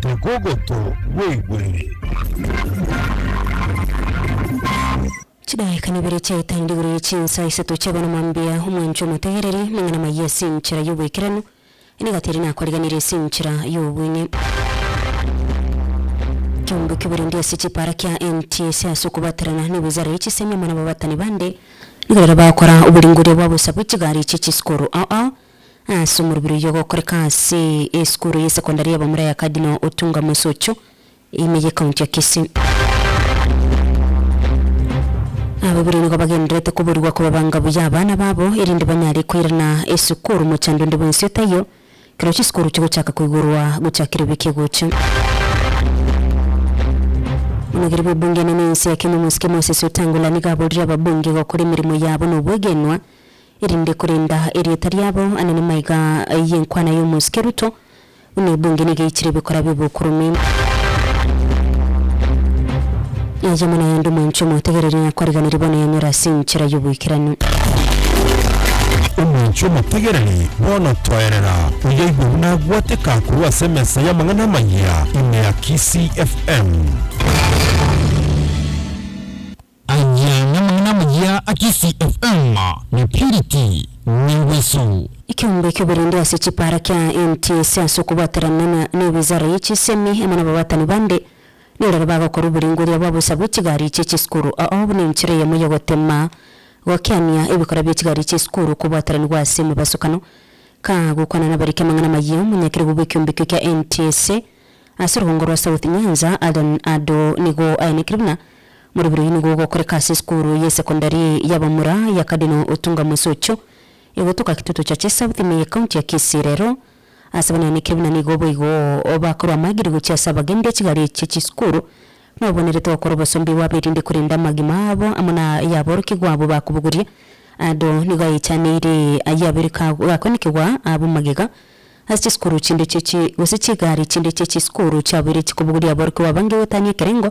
Tokogoto bweigwere. Chidaeka nibere chiaetangire igoro ye chinsa isato chia abana mambia, omwanchwa omotegereri, amang'ana amaya ase enchera y'oboikeranu, nigo atari nakoriganirie ase enchera y'obong'e. Kiombe ki'oborendi ase chipaara kiaentie ase ase okobaterana, nigo ozarerie chisemi amo nababatani bande, Nigo riria bagokora oboringoria bwabo inse bwe chigari chie chisukuru ao ao, ase omorobiri oyio ogokoreka ase esukuru ye sekondari ya Bamura ya Cardinal Otunga Mosocho, ime ye county ya Kisii. Abaibori nigo bagendererete koborigwa kobabanga buya abana babo, erinde banyare koirana esukuru mochando onde bwensi otaiyo, Ekero chisukuru chigochaka koigorwa gochia kera ebeke egocha. Omogeri bw'ebunge enene y'ense ya Kenya omosike Moses Wetangula nigo aborire ababunge gokora emeremo yabo na obwegenwa erinde korenda erieta riabo anene maiga y'enkwana y'omosike Ruto buna ebunge nigo eichire ebikora bi'obokurume. Yaye mono yaye ndi mwanchwa omotegereria, na kwariganeri bono yanyora ase enchera y'oboikeranu. Omwanchwa omotegereri, bono toerera, oyoigwe buna agwateka korwa ase emesa y'amang'ana amayia ime ya Kisii FM. Ayia namang'ana amayia a Kisii FM na Purity Nyangwesu. Ekeombe ki'oborindi ase chipaara kia NTSA ase okobwaterana na ewizara ye chisemi amo nababatani bande. Neroro bagokora oborengoria bwa bosa bwe chigari chie chisukuru. Oo buna enchera eyemo y'ogotema gokiania ebikora bie chigari chie sukuru kobwateranigwa ase emebasukano. Ka gokwana nabariki amang'ana amayia, omonyakeregwa bw'ekiombikio kia NTSA ase orugongo rwa South Nyanza, Allan Ado nigo aenekire buna, Morobiri oyio nigo ogokoreka ase esukuru y'esekondari y'abamura ya Cardinal Otunga Mosocho, egotoka Kitutu Churches South ime ye County ya Kisii rero. Ase abana ne Kebuna nigo boigo bakorwa amagiri gochia ase abagendia e chigari chie chisukuru, na obonerete gokora obosombi bwabo erinde korenda amagima abo amo na ay'aborokigwa abwo bakobogoria. Ado nigo ayechaneire ayio abere gakoinekigwa abe omogega ase chisukuru chinde chie gose chigari chinde chie chisukuru chiaboire chikobogoria aborokigwa abange gotania ekerengo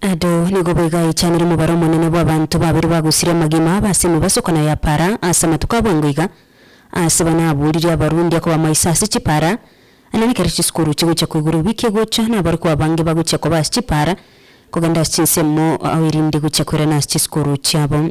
Ado nigo bwegaichanire omobaro omonene bw'abanto babere bagosirie amagima abo ase emibaso kana ya para ase amatuko abwango iga. Ase bana aboririe Abarundi akobamaisa ase chipara, na nekero chisukuru chigochia koigora obiki egocha, nabarokigwa abange bagochia koba ase chipara kogenda ase chinsemo erinde gochia koirana ase chisukuru chiabo.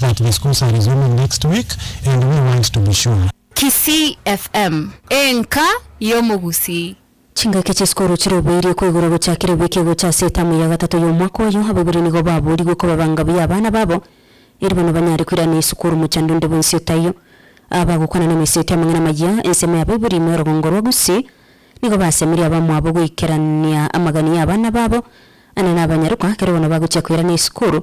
that the schools are resuming next week and we want to be sure. Kisii FM, Enka y'Omogusii. Chingaki chi'esukuru chiroboirie koigurwa gochakire wiki egocha ase etamu ya gatato y'omwaka oyo. Abaibori nigo baboorigwe kobabanga buya abana babo eri bono banyare koirana esukuru mochando onde bwensi otaiyo. Aba bagokwana nemeseeti amang'ana maya, ensemo y'abaibori ime orogongo rwa Gusii, nigo basemeria abamwabo goikerania amagani y'abana babo, ane nabanyarokwa, ekero bono bagochia koirana esukuru.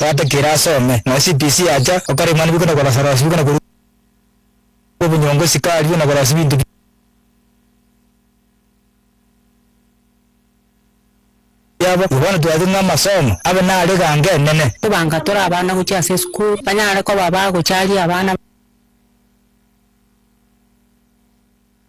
Yatakeire asome, na CPC yacha, okara mani bikuna kora farasi, bikuna korua obunyongo, sikari, na korasi binto bia biabo. Igo bono twati ng'a amasomo abe nare ganga enene. Kobanga tore abana gochia ase esukuru, banyare koba ba gocharia abana.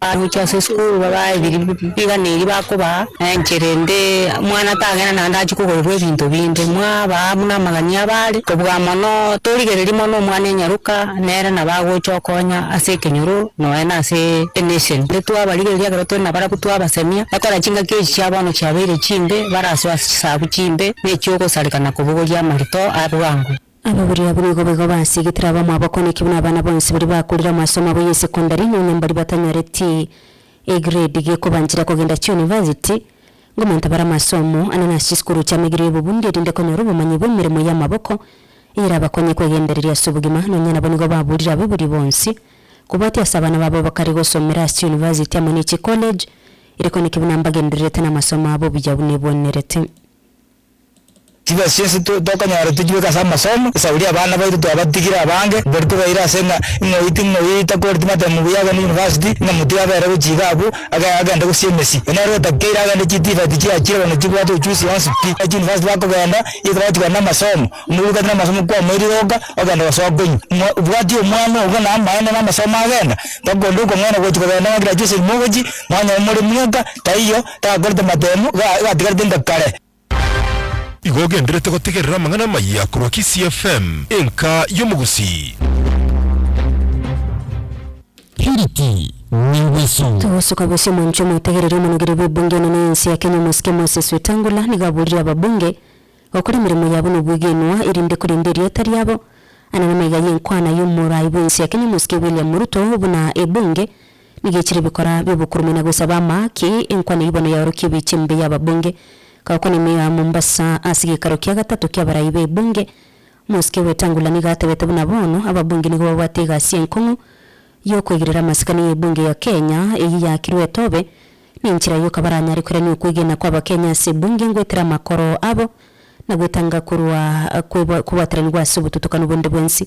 Bagochia ase esukuru babae ebiria biganeiri bakobaa, na enchera ende omwana tagenda naende achie kogorerwa ebinto binde, mwabaa buna amagani abare kobuga mono, torigereria mono omwana enyaroka nere nabo agocha okonya ase ekenyoro nonya na ase enation. Ere twabarigereria ekero tore nabarabwo twabasemia, ekora chingaki echi chia bono chiabeire chimbe, barasoa chisagu chimbe, ne echiogosareka na kobogoria amarito a bwango. Ababuri abwo nigo boigo basigetire abamwabo okoneki buna abana bonsi baria bakorire amasomo abo y'esekondari nonya mbaria batanyoreti egredi gekobanchera kogenda chionivasiti. Ngomanto bare amasomo ane nase chisukuru chi'amaigerio y'obobundi erinde konyora obomanyi bw'emeremo y'amaboko eyerabakonye kwegendereria ase obogima. Nonya nabo nigo baburire ababuri bonsi kobwatia ase abana babo ebakare gosomera ase chionivasiti amo ne chikolej, erekoneki buna mbagendererete namasomo abo buya buna ebwenerete. Chibesa chionsi tokonyora tichibe ase amasomo, esauri abana baito twabatigire abange, mbori tobaire ase ng'a ing'oyi ting'oyi takoreti matemu buya agende university, ng'a motiga abere gochia iga abwo agende gosia emesi. Onye nere otakeire agende chitivati chiachire bono chibwate uchusi yonsi pi. Ase university bakogenda iga bagotigana na amasomo, omoruki gati na amasomo kwamoire iga oka ogenda gosoa konywa. Obwati omwana obo na amaene na amasomo agenda, mpaka onde okong'aina gochi kogenda ng'a graduation mogochi, mwanyora more mwenka taiyo. Takorete matemu, gatigarete inga kare. Igo ogenderete gotegerera amang'ana amaya korwa Kisii FM, enka y'omogusii. Purity Nyagweso. Togosoka bosio omonto omotegereri omonogire bw'ebunge enene y'ense ya Kenya omosike Moses Wetangula nigo aburire ababunge gokora emeremo yabo nobwegenwa erinde korenda erieta riabo ane namaiga y'enkwana y'omorai bw'ense ya Kenya omosike William Ruto buna ebunge Nigechire ebikora bi'obokurume na gosaba amahaki, enkwana eyio bono yaorokia ebiicha embe y'ababunge. Gakokwana emio ya Mombasa ase gekaro kia gatato ki'abarai b'ebunge, omosike Wetangula nigo atebete buna bono ababunge nigo babwate egasi enkong'u y'okoigirera amasikani y'ebunge ya Kenya eyio yakirwe etobe, nenchera eyio kabaranyare koirania okwegena kw'abakenya ase ebunge ngoetera amakoro abo na goetanga korwa kobwateranigwa ase obotutukanu bonde bwensi.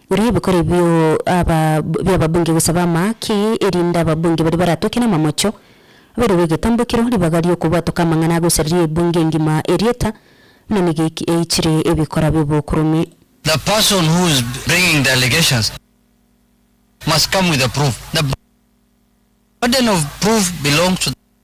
Riria ebikori bio aba bi'ababunge gosaba amaaki, erinde ababunge baria baratoke namamocho, aberwe egetambokero, ribaga ri'okobwatoka amang'ana agosareria ebunge engima erieta, buna nigo eki eichire ebikora bi'obokurume. The person who is bringing the allegations must come with the proof. The burden of proof belongs to the.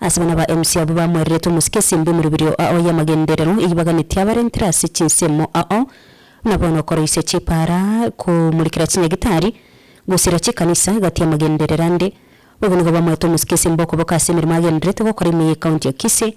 Ase abana ba MC abwo bamwereretwe omosike esembo emerubirio ao y'amagenderero eyio baganetie abarentire ase chinsemo ao, buna bono okoroisia chipara, komurikera chinyagitari, gosira chikanisa gati y'amagenderero ande. Bobe nigo bamwete omosike esembo okoboka ase emeremo agendererete gokora ime y'Ekaunti ya Kisii.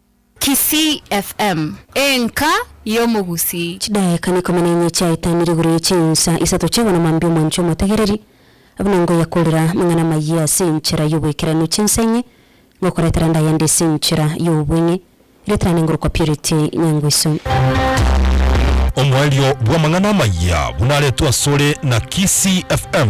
Kisii FM, enka y'omogusii. Chidaeka nekomi nenye chiaetanire igoro ye chinsa isato chiabo na mambia omwancho omotegereri, buna ngoya korera amang'ana amayia ase enchera y'oboikeranu chinsa enye, ngokoretera ande ayande ase enchera y'obong'e, eretera ande ngorokwa purity nyangwiso. Omoerio bw'amang'ana amayia buna aretwe asore na Kisii FM.